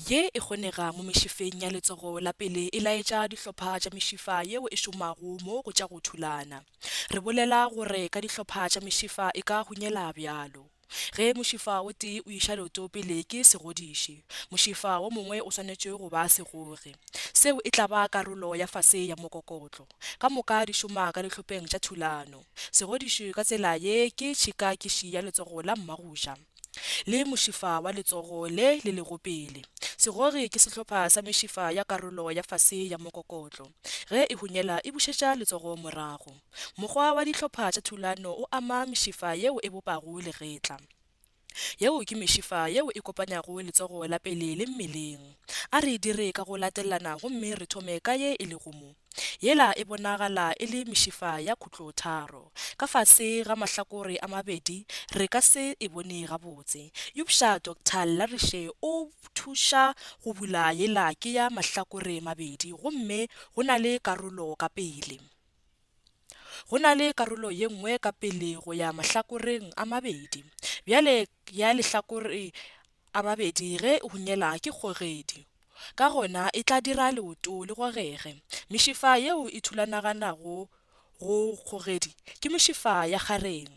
Ye e kgonega mo mešifeng ya letsogo la pele e laetša dihlopha tša mešifa yeo e šomago mo go tša go thulana. Re bolela gore ka dihlopha tša mešifa e ka hunyela bjalo. Ge mošifa o tee o iša leoto pele ke segodiši, mošifa wo mongwe o swanetše go ba segogi. Seo e tla ba karolo ya fase ya mokokotlo. Ka moka di šoma ka dihlopeng tša thulano. Segodiši ka tsela ye ke tšhikakiši ya letsogo la mmagoja. le mošifa wa letsogo le le lego pele. Segori ke sehlopha sa mešifa ya karolo ya fase ya mokokotlo. Ge e hunyela e bušetša letsogo morago. Mokgwa wa dihlopha tša thulano o ama mešifa yeo e bopago legetla. Yeo ke mešifa yeo e kopanyago letsogo la pele le mmeleng. A re e dire ka go latelana gomme re thome ka ye e lego mo. Yela e bonagala e le mešifa ya khutlotharo. Ka fase ga mahlakore a mabedi re ka se e bone gabotse. Eupša Doctor Larishe o thuša go bula yela ke ya mahlakore mabedi gomme go na le karolo ka pele. Go na le karolo ye nngwe ka pele go ya mahlakoreng a mabedi. Bjale ya lehlakore A babedi ge e hunyela ke kgogedi. Ka gona e tla dira leoto le gogege. Mešifa yeo e thulanaganago go kgogedi ke mešifa ya kgareng.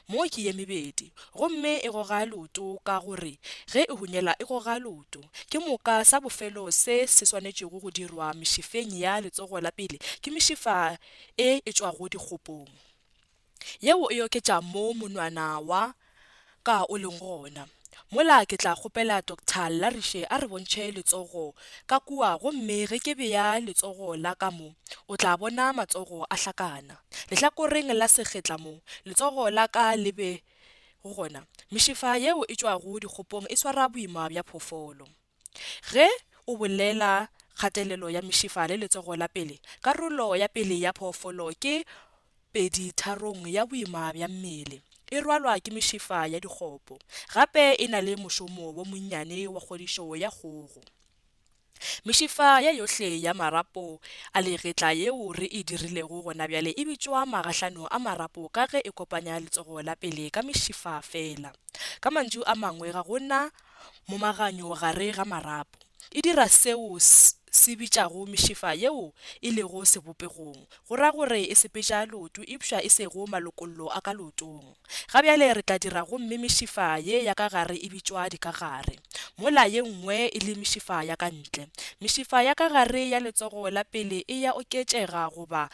Mo ke ye mebedi. Gomme e goga leoto ka gore ge e hunyela e goga leoto. Ke moka sa bofelo se se swanetšego go dirwa mešifeng ya letsogo la pele ke mešifa e e tšwago dikgopong. Yeo e oketša moo monwana wa ka o leng gona. Mola ke tla kgopela Doctor Llarishe a re bontšhe letsogo ka kua gomme ge ke bea letsogo la ka mo, o tla bona matsogo a hlakana. Lehlakoreng la sekgetla mo letsogo la ka le bego gona, mešifa yeo e tšwago dikgopong e swara boima bja phoofolo. Ge o bolela kgatelelo ya mešifa le letsogo la pele, karolo ya pele ya phoofolo ke peditharong ya boima bja mmele. E rwalwa ke mešifa ya dikgopo. Gape e na le mošomo wo monnyane wa kgodišo ya kgogo. Mešifa ye yohle ya marapo a legetla yeo re e dirilego gonabjale e bitšwa magahlano a marapo ka ge e kopanya letsogo la pele ka mešifa feela. Ka mantšu a mangwe ga go na momaganyo gare ga marapo. E dira seo se bitšago mešifa yeo e lego sebopegong, go ra gore e sepetša leoto eupša e sego malokollo a ka leotong. Ga bjale re tla dira gomme mešifa ye ya ka gare e bitšwa dikagare, mola ye nngwe e le mešifa ya ka ntle. Mešifa ya ka gare ya letsogo la pele e ya oketšega goba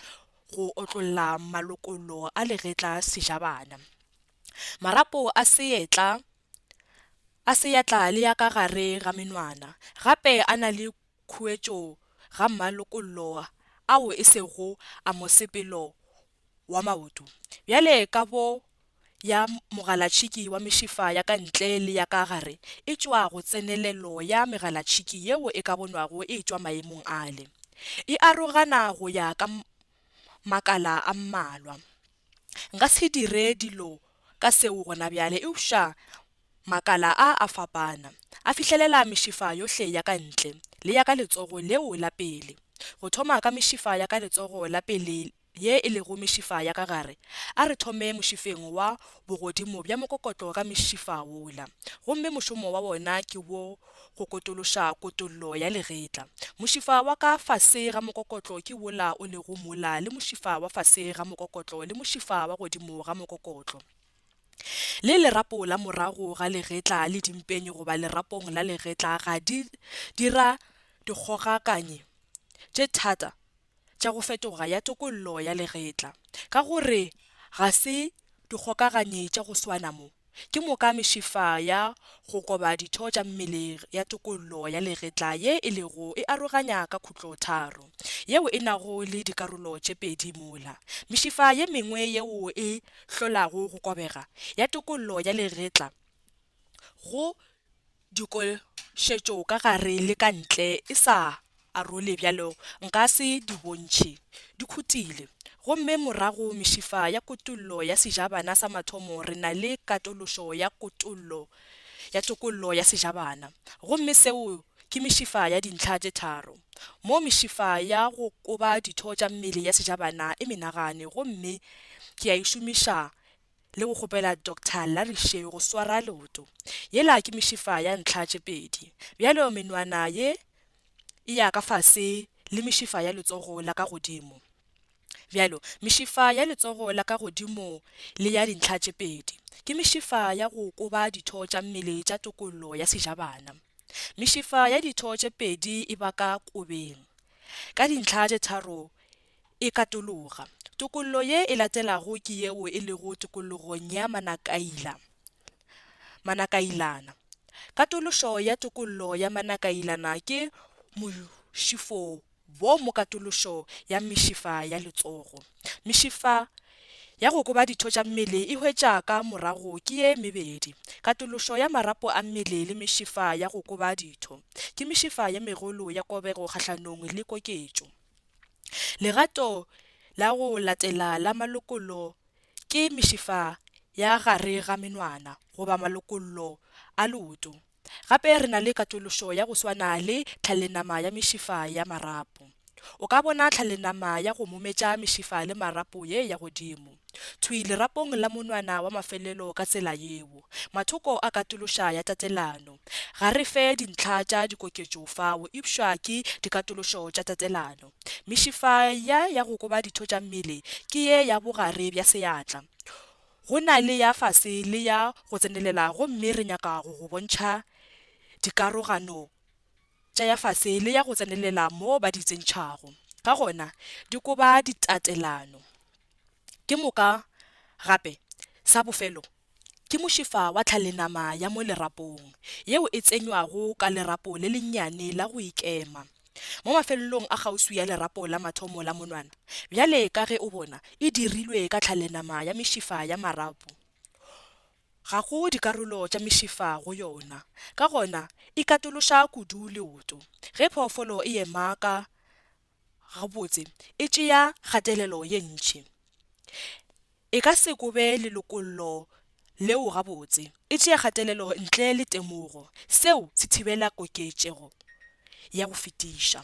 go otlolla malokollo a legetla sejabana. Marapo a seetla a seatla le ya ka gare ga menwana, gape a na le khuetšo ga mmalokollo ao e sego a mosepelo wa maoto, bjale ka bo ya mogalatšhiki wa mešifa ya ka ntle le ya ka gare e tšwa go tsenelelo ya megalatšhiki yeo e ka bonwago e tšwa maemong ale. E arogana go ya ka makala a mmalwa. Nka se dire dilo ka seo gona bjale, eupša makala a a fapana. A fihlelela mešifa yohle ya ka ntle, le ya ka letsogo leo la pele, go thoma ka mešifa ya ka letsogo la pele ye e lego mešifa ya ka gare. A re thome mošifeng wa bogodimo bja mokokotlo ka mešifa wola, gomme mošomo wa wona ke wo Go kotološa kotollo ya legetla. Mošifa wa ka fase ga mokokotlo ke wola o lego mola le mošifa wa fase ga mokokotlo le mošifa wa godimo ga mokokotlo, le lerapo la morago ga legetla le dimpeng goba lerapong la legetla ga di dira dikgogakanye tše thata. tša go fetoga ya tokollo ya legetla, ka gore ga se dikgokaganye tša go swana mo, ke moka mešifa ya go koba ditho tša mmele ya tokollo ya legetla ye e lego e aroganya ka khutlotharo, yeo e nago le dikarolo tše pedi mola, mešifa ye mengwe yeo e hlolago go kobega ya tokollo ya legetla go. Dikošetšo ka gare le ka ntle e sa arole bjalo nka se di bontšhe. Di khutile. Gomme morago mešifa ya kutollo ya sejabana sa mathomo re na le katološo ya kutollo ya tokollo ya sejabana. Gomme seo ke mešifa ya dintlha tše tharo. Mo mešifa ya go koba ditho tša mmele ya sejabana e menagane gomme ke a e šomiša le go kgopela Doctor Larry Sheu go swara leoto. Yela ke mešifa ya ntlha tše pedi. Bjalo menwana ye e ya ka fase le mešifa ya letsogo la ka godimo. Bjalo, mešifa ya letsogo la ka godimo le ya dintlha tše pedi ke mešifa ya go koba ditho tša mmele tša tokollo ya sejabana. Mešifa ya ditho tše pedi e baka kobeng ka dintlha tše tharo E katologa. Tokollo ye e latelago ke yeo e lego tokollogong ya Manakaila. Manakailana. Katološo ya tokollo ya Manakailana ke mošifo wo mo katološo ya mešifa ya letsogo. Mešifa ya go koba ditho tša mmele e hwetša ka morago ke ye mebedi, katološo ya marapo a mmele le mešifa ya go koba ditho. Ke mešifa ye megolo ya kobego kgahlanong le koketšo. Legato la go latela la malokollo ke mešifa ya gare ga menwana goba malokollo a leoto. Gape re na le katološo ya go swana le tlhalenama ya mešifa ya marapo. O ka bona tlhalenama ya go mometša mešifa le marapo ye ya godimo. Thwi lerapong la monwana wa mafelelo ka tsela yeo. Mathoko a katološa ya tatelano. Ga re fe dintlha tša dikoketšo fao eupša ke dikatološo tša tatelano. Mešifa ya ya go koba ditho tša mmele ke ye ya bogare bja seatla. Go na le ya fase le ya go tsenelela gomme re nyaka go go bontšha dikarogano tša ya fase le ya go tsenelela mo ba di tsentšhago ka gona di koba ditatelano. Ke moka gape, sa bofelo, ke mošifa wa tlhalenama ya mo lerapong, yeo e tsenywago ka lerapo le lennyane la go ikema, mo mafelelong a kgauswi ya lerapo la mathomo la monwana, bjale ka ge o bona, e dirilwe ka tlhalenama ya mešifa ya marapo. Ga go dikarolo tša mešifa go yona, ka gona e katološa kudu leoto ge phoofolo e ema ka, gabotse e tšea kgatelelo ye ntši. E ka se kobe lelokollo leo gabotse, e tšea kgatelelo ntle le temogo. Seo se thibela koketšego ya go fetiša.